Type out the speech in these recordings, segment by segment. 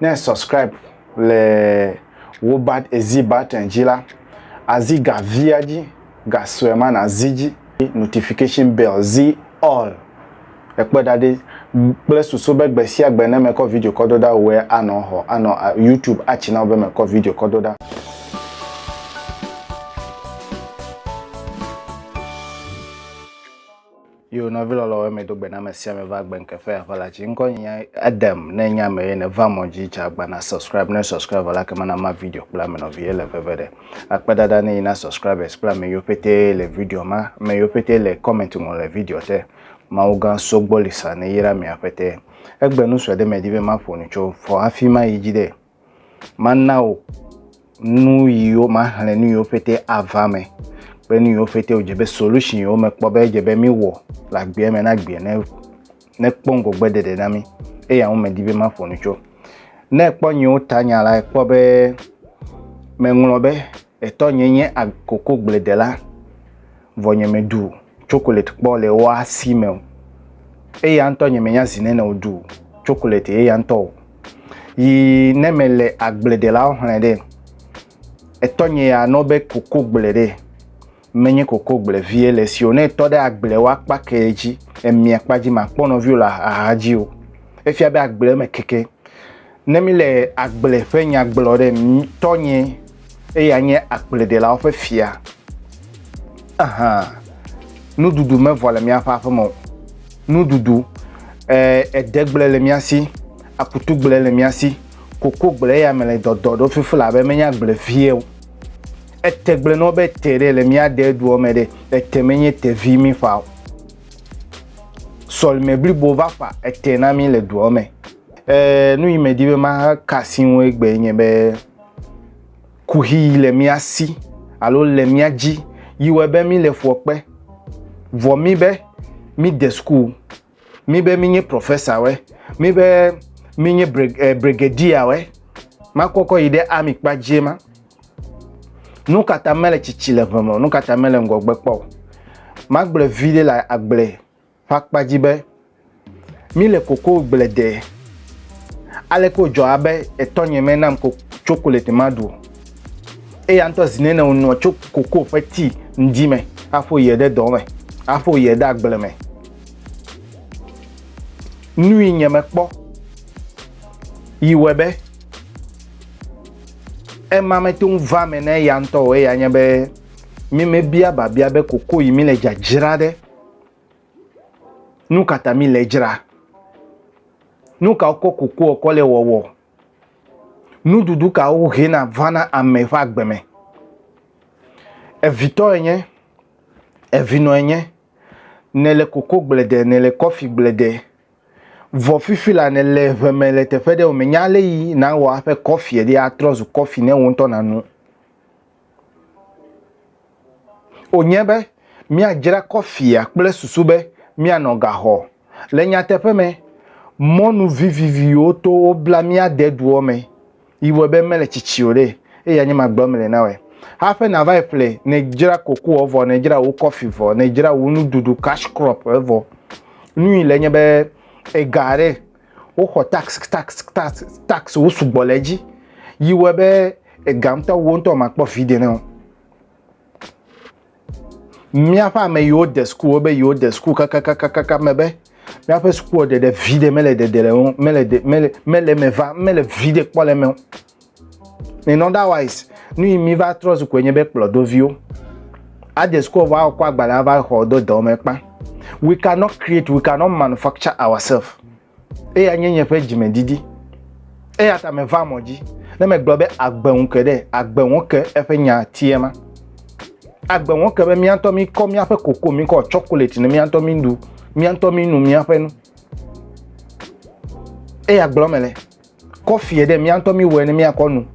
Ne e subscribe le wo bat ezi button dzi la, azi ga via dzi, ga sue ma nazi dzi. Notification bell zi all. Ekpɔe ɖa ɖi kple susu be gbe sia gbe ne mekɔ video kɔ do ɖa wòe anɔ xɔ anɔ YouTube atsi na wò be mekɔ video kɔ do ɖa. Yo nɔvi lɔlɔwo eme do gbe na ame sia ame va gbe nke fe aƒe la tsi ŋkɔ nye nya Adam ne nya ame ye ne va mɔ dzi tsa gba na subscribe ne subscribe vɔ la ke mana ma video kple ame nɔvi ye le veve ɖe akpe dada ne yi na subscribers kple ame yiwo pete le video ma ame yiwo pete le comment ŋɔ le video te mawu gã so gbɔ lisa ne yi ɖa mia pete egbe nu sue ɖe me di be ma ƒo nu tso fɔ hafi ma yi dzi ɖe Mana wò nu yiwo maxlẽ nu yiwo pɛtɛ ava me kple nu yiwo pɛtɛ wòdze be solution yiwo mekpɔ be edze be míwɔ le agbea me na agbea ne nekpɔ ŋgɔgbe ɖeɖe na mí. Eya ŋu medi be maƒo nu tso. Ne ekpɔ nyewo ta nya la, ekpɔ be meŋlɔ be. Etɔ nye nye koko gble dela, vɔ nye me ɖu chocolate kpɔ le ewo asi me o. Eya ŋutɔ nye me nya zi nene wo ɖu chocolate eya ŋutɔ o. Yi ne me le agble delawo xlẽ ɖe, etɔ nye ya nɔ be koko gble ɖe. Menye kokogbleviɛ le si o, ne etɔ ɖe agblewo akpa ke dzi, emia kpa dzi makpɔ nɔviwo le axa dzi o. Efia be agble me keke. Ne mi le agble ƒe nya gblɔ ɖe, tɔ nye, eya nye agbledelawo ƒe fia. Ahan. Nuɖuɖu me vɔ le miaƒe aƒe me o. Nuɖuɖu, e, edegble le mia si, akutugble le mia si, kokogble eya me le dɔdɔ ɖo fifila be menye agbleviɛ o. Ete gblẽ nɔ be te ɖe le mía de duɔ me ɖe, ete menye te vi mí ƒa o. Sɔlime blibo va ƒa ete na mí le duɔ me. Ee, nu yi medi be maka asi ŋu egbee nye be kuxi yi le mía si alo le mía dzi yi wɔe be mí le fuɔ kpe. Vɔ mí be mí de suku Mi be minye professor mi be minye eh, brigadier we, makɔkɔ yi ɖe ami kpa dzie ma. Nu kata mele tsitsi le ʋeme o, nu kata mele ŋgɔgbe kpɔ o. Magblɔ vi ɖe le agble ƒe akpa dzi be, mi le koko gble de. Ale ko dzɔ abe etɔnye me nam ko chocolate ma ɖu o. Eya ŋutɔ zi nene wonɔ tso koko ƒe tii ŋdi me afo yie ɖe dɔ me, afo yie ɖe agble me. Nui nye me kpɔ yi wɔ be ema me to va me ne ya ŋutɔ o eya nye be mi me bia babia be koko yi mi le dzadzra ɖe nu kata mi le dzra nu ka wokɔ koko ɔkɔ le wɔwɔ nuɖuɖu ka wohena vana ame ƒe agbe me evitɔ enye evinɔ enye nèle koko gblede, nèle kɔfi gblede, vɔ fifi la nèle ŋe me le teƒe ɖe o, mènya ale yi nàwɔ aƒe kɔfie ɖi atrɔ zu kɔfi ne wò ŋutɔ nàno o. Nye be míadzra kɔfia kple susu be míanɔ gaxɔ. Le nyateƒe me, mɔnu viviviwo to wobla mía deduɔ me. yi wɔe be mele tsitsi o ɖe, eye anye magblɔ mele na wɔe. Haƒe nava yi ƒle, ne dzra koko ɔ vɔ, ne dzra wo kɔfi vɔ, ne dzra wo nuɖuɖu cash crop e vɔ. Nu yi le nye be ega ɖe woxɔ tax tax tax tax wo sugbɔ le edzi yi wɔe be ega ŋutɔ wo ŋutɔ makpɔ vide ne o. Míaƒe ame yiwo de suku wo be yiwo de suku kakakakaka me be míaƒe sukuwɔ ɖeɖe vi ɖe mele ɖeɖe le ŋu mele ɖe mele mele me va mele vi ɖe kpɔ le me o. In otherwise nu yi mi va trɔ zu koe nye be kplɔdo viwo. Ade suku vɔ akɔ agbalẽ ava xɔ do dɔ me kpa. We cannot create we cannot manufacture ourselves. Eya nye nye ƒe dzimedidi. Eya ta meva mɔ dzi ne megblɔ be agbe ŋu ke ɖe agbe ŋu ke eƒe nya tie ma. Agbe ŋu ke be mía ŋutɔ míkɔ míaƒe koko, míkɔ tsɔkolati ne mía ŋutɔ míɖu, mía ŋutɔ mínu míaƒe nu. Eya gblɔ mele. Kɔfie ɖe mía ŋutɔ míwɔe ne míakɔ nu.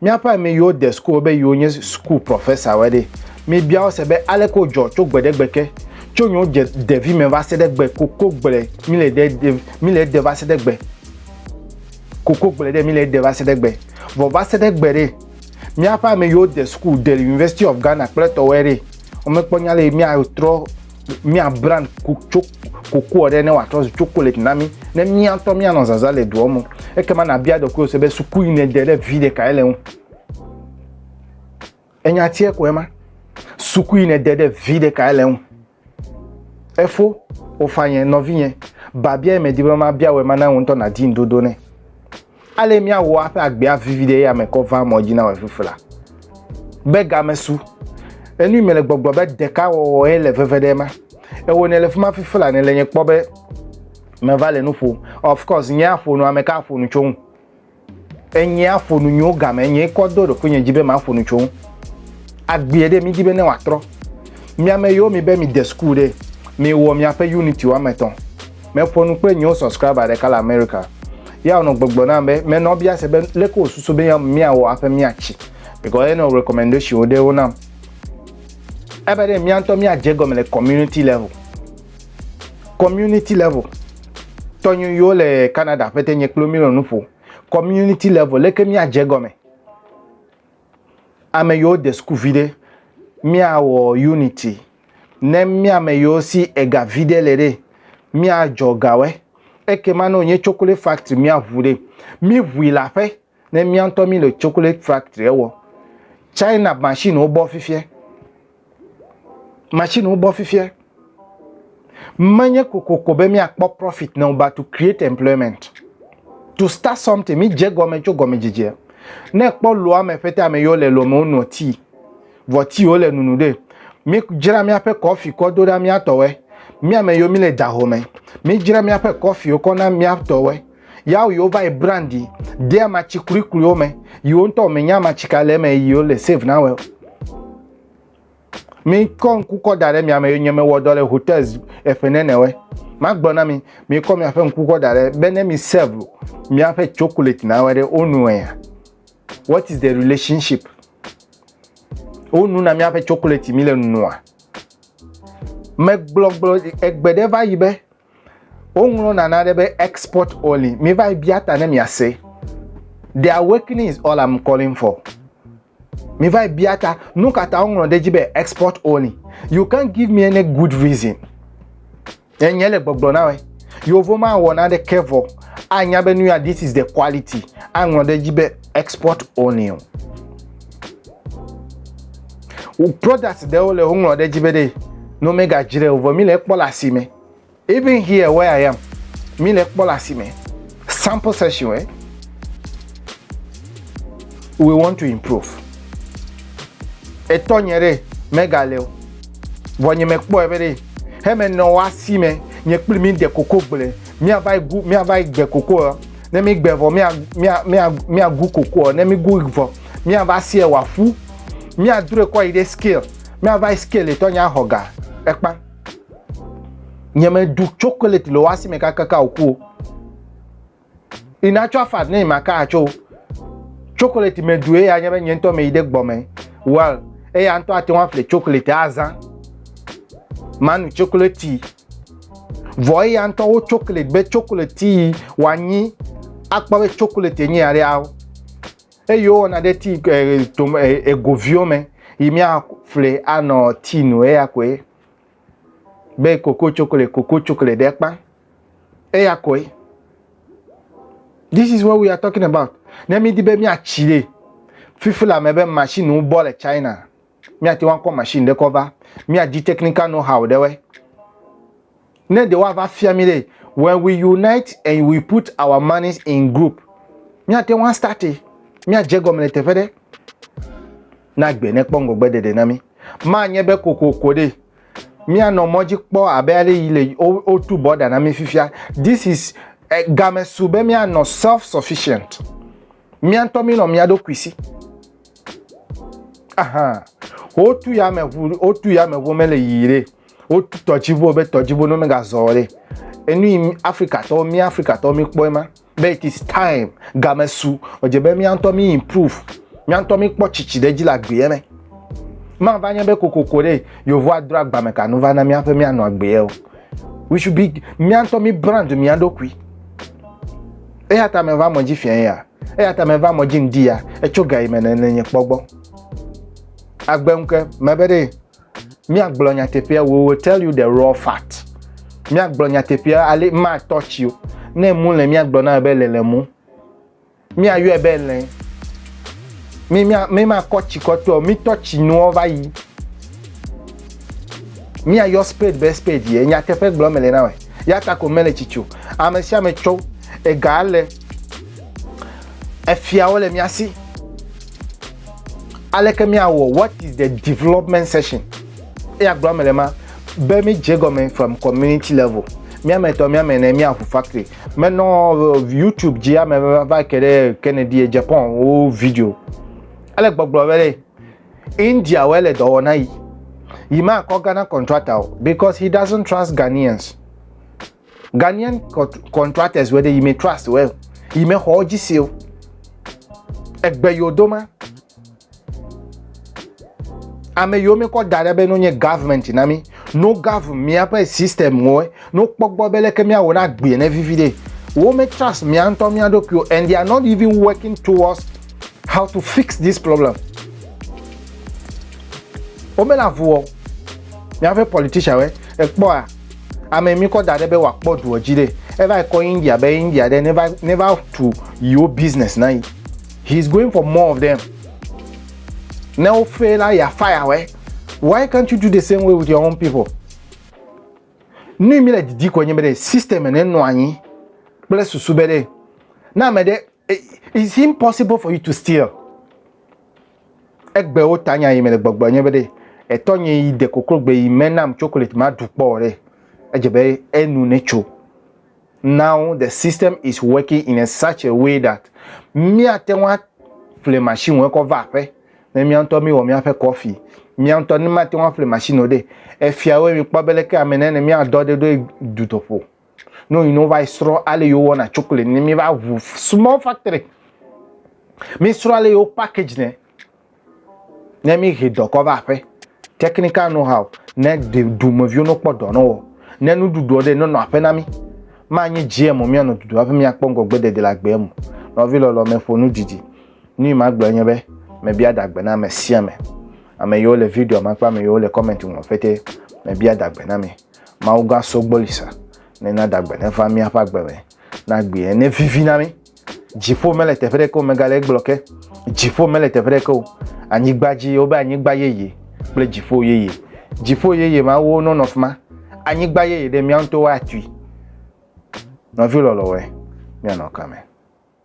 Míaƒe ame yiwo de suku be yiwo nye suku prɔfesawoe ɖe, mibia wo se be aleke wodzɔ tso gbe ɖe gbe ke, tso nyo dze ɖevi me va se ɖe gbe koko gble mi le ɖe ɖe mi le ɖe va se ɖe gbe. Koko gble ɖe mi le ɖe va se ɖe gbe. Vɔ va se ɖe gbe ɖe míaƒe ame yiwo de suku de University of Ghana kple tɔwoe ɖe, womekpɔ nya le míatrɔ mía brand tso kokoa ɖe ne wòatrɔ zu chocolate na mí ne mía ŋutɔ míanɔ zazã le doa me ekema nàbia ɖokuiwò se be suku yi nède ɖe vi ɖekae le ŋu enya tiɛ koe ma suku yi nède ɖe vi ɖekae le ŋu efo wofanye nɔvinye babia yi medi be mabia wòe ma na ŋu ŋutɔ nàdi ŋuɖoɖo nɛ Ale míawɔ aƒe agbea vivi ɖe eya me kɔ va mɔ dzi na wɔ fufu la. Be game su. Enu me le gbɔgblɔ be ɖeka wɔwɔ ye le veve ɖe ma. Ewo ne le fima fifi la ne le nye kpɔ be me va le nu ƒo. Of course nye aƒo nu ame ka aƒo nu tso ŋu. Enye aƒo nu nyo game nye kɔ do ɖoku nye dzi be ma aƒo nu tso ŋu. Agbea ɖe mi dzi be ne wa trɔ. Mi ame yo mi be mi de school ɖe. Mi wɔ mi aƒe unit wa me tɔn. Meƒo nu kple nyewo subscriber ɖeka le America. Ya wònɔ gbɔgblɔ nam be, menɔ bia se be leke wòsusu be míawɔ hafi míatsi because enɔ recommendationwo ɖewo nam. Ebe ɖe mía ŋutɔ míadze egɔme le community level. Community level. Tɔnyewo yiwo le Canada ƒete nye kpli wo mílɔ nu ƒo. Community level, leke míadze egɔme. Ame yiwo de sukuvi ɖe, míawɔ unity. Ne mía me yiwo si ega viɖe le ɖe, míadzɔ gawɔe. Ekema ne wònye chocolate factory míaʋu ɖe, míʋui le aƒe ne mía ŋutɔ míle chocolate factory wɔ. China machine-wo bɔ fifia. Machine-wo bɔ fifia. Menye kokoko be míakpɔ profit na wo but to create employment. To start something, mídze gɔme tso gɔmedzedzea. Ne ekpɔ loa me ƒete ame yiwo le loa me wonɔ tea. Vɔ ti wole nunu ɖe. Mi dzra miaƒe kɔfi kɔ do ɖa mia tɔwɛ. Mi ame yiwo mi le daho me. Mi dzra miaƒe kɔfi wo kɔ na mia tɔwɛ. Yawo yiwo va yi brandi de amatsi kulikuli wo me. Yiwo ŋutɔ me nya amatsi ka le me yiwo le save na wɛ. Mi kɔ ŋku kɔ da ɖe mi ame yiwo nye me wɔ dɔ le hotels eƒe nene wɛ. Ma gbɔ na mi, mi kɔ miaƒe ŋku kɔ da ɖe be ne mi save miaƒe chocolate na wɛ ɖe wo nu wɛ ya. What is the relationship? Wonu na míaƒe tsokoleti mi le nua. Megblɔgblɔ egbe ɖe va yi be woŋlɔ nana ɖe be export only. Mi va yi bia ta ne miase. The awakening is all I'm calling for. Mi va yi bia ta nu ka ta woŋlɔ ɖe dzi be export only. You can't give me any good reason. Nye nye le gbɔgblɔ na wɛ. Yovo ma wɔ na ɖe ke vɔ. A nya be nu ya this is the quality. A ŋlɔ ɖe dzi be export only. O product ɖe wo le wo ŋlɔ ɖe dzi be ɖe no me ga jre o vɔ mi le kpɔ le asi me. Even here where I am mi le kpɔ le asi me. Sample session, eh? We want to improve. Etɔ nye ɖe mega le o. Vɔ nye mekpɔ ebe ɖe heme nɔ wa si me nye kpli mi de koko gble. Mia va gu mia va gbe koko ɔ. Ne mi gbe vɔ mia mia mia mia gu koko ɔ. Ne mi gu vɔ mia va sie wa fu. Mia dure kɔ yi ɖe scale. Mia va scale etɔ nye ahɔga. Ekpa. Nye me du chocolate le wasi me kaka ka oku. Ina cho afa ne ma ka cho. Chocolate me du e ya nye be nye ntɔ me ide gbɔ me. Well, e ya ntɔ ate wa fle chocolate azan. Manu chocolate tea. Vɔ e ya ntɔ wo chocolate be chocolate tea wa nyi akpɔ be chocolate nyi ya re awo. Eye wowɔna ɖe ti tom egoviwo me yi miafli anɔ ti nu eya koe be koko tsokle koko tsokle ɖe kpa eya koe this is what we are talking about ne mi di be mi atsi ɖe fifi la me be machine wo bɔ le china mi ati wa kɔ machine ɖe kɔ va mi adi technical know how ɖe wɛ Ne ɖe woava fia mí ɖe, when we unite and we put our monies in group, míate ŋu astarte, míadze egɔme le teƒe ɖe. Na gbe nekpɔ ŋgɔgbe ɖeɖe na mí. Manye be kokoko ɖe míanɔ mɔ dzi kpɔ abe ale yi le wotu bɔda na mí fifia. This is eh, game su be míanɔ self sufficient. Mía ŋutɔ mí nɔ mía ɖokui si. Aha. Wotu yameʋu, wotu yameʋu mele yiyi ɖe. wotu tɔdziʋuwo be tɔdziʋuwo ne megazɔ o ɖe. Enu yi mí- Afrikatɔwo, mía Afrikatɔwo míkpɔe ma, be it is time, game su, edze be mía ŋutɔ mí improve, mía ŋutɔ míkpɔ tsitsi ɖe edzi le agbeɛ me. Mava nye be kokoko ɖe Yehowa adro agba me kanu va na mía ƒe míanɔ agbeɛ o. We should be, mía ŋutɔ mí brand mía ɖokui. Eya ta meva mɔ dzi fiã ya, eya ta meva mɔ dzi ŋdi ya, etso ga yi me nene nye kpɔ gbɔ. Agbe ŋke, mebe ɖe míagblɔ nyateƒea we will tell you the raw fact míagblɔ nyateƒea ale matɔ tsi o ne mu le míagblɔ na be le le mu míayɔe be le mímakɔ tsi kɔtɔ mítɔ tsi nuɔ va yi míayɔ spade be spade ye nyateƒe gblɔ mele na wɛ ya ta ko mele tsi tso ame sia ame tso ega le efiawo le mía si. Aleke míawɔ What is the development session? Eya gblɔ eme le ma be mi dze gɔme from community level. Mi ame etɔ̃, mi ame ene, mi aƒu factory. Menɔ uh, YouTube dzi ame va ke ɖe Kennedy Japan wo video. Ele gbɔgblɔ be le India wo ele dɔwɔna yi. Yi ma kɔ Ghana contractor because he doesn't trust Ghanaians. Ghanaian contractors wɛ ɖe yime trust wɛ yime xɔ dzi seo egbe yo do ma ame yiwo mi kɔ da ɖe be no nye government na mi no gov miaƒe system ŋɔe no kpɔgbɔ be leke miawɔ na gbie ne vivi ɖe wo me trust mia ŋutɔ mia ɖokuiwo and they are not even working towards how to fix this problem wo me la vuwɔ miaƒe politician wɛ ekpɔa Ame mi kɔ da ɖe be wòakpɔ duɔ dzi ɖe. Eva yi kɔ India be India ɖe neva neva tu yewo business na yi. He is going for more of them. Ne wo fail la ya fire wɛ. Why can't you do the same way with your own people? Nu mi le didi kɔ nye be ɖe system ne nɔ anyi kple susu be ɖe na ame ɖe It's impossible for you to steal. Egbe wo ta nya yi me le gbɔgblɔ nye be ɖe etɔ nye yi de koklo gbe yi me nam chocolate ma du kpɔ ɖe edze be enu ne tso. Now the system is working in a such a way that mia te wa fle machine wo kɔ va aƒe ne mia ŋutɔ mi wɔ mia ƒe kɔfi mia ŋutɔ ne ma te wa fle machine wo ɖe efia wo mi kpɔ be leke ame ne ne mia dɔ ɖe ɖo du toƒo. No you know why srɔ ale yo wɔna chocolate ni mi va wu small factory. Mi srɔ ale yo package ne. Ne mi he dɔ kɔ va aƒe. Technical know how ne de du me viwo no kpɔ dɔ no wo. Ne nu du do de no no aƒe na mi. Ma nyi jie mo mi ano du do aƒe mi akpɔ ngo gbe de de la gbe mo. No vi lolo me fo nu didi. Ni ma gbe nye be me bia da gbe na me sia me. Ame yo le video ma kpa me yo le comment mo fete. Me bia da gbe na me. Mawu gã so gbɔ lisa, nena dagbe neva míaƒe agbe me, na gbi ne vivi na mí. Dziƒo mele teƒe ɖeke o, megale egblɔ ke. Dziƒo mele teƒe ɖeke o, anyigba dzi, wobe anyigba yeye kple dziƒo yeye. Dziƒo yeye ma wo nɔ nɔ fima, anyigba yeye ɖe mía ŋutɔ woatui. Nɔvi lɔlɔwɔe, míanɔ kame.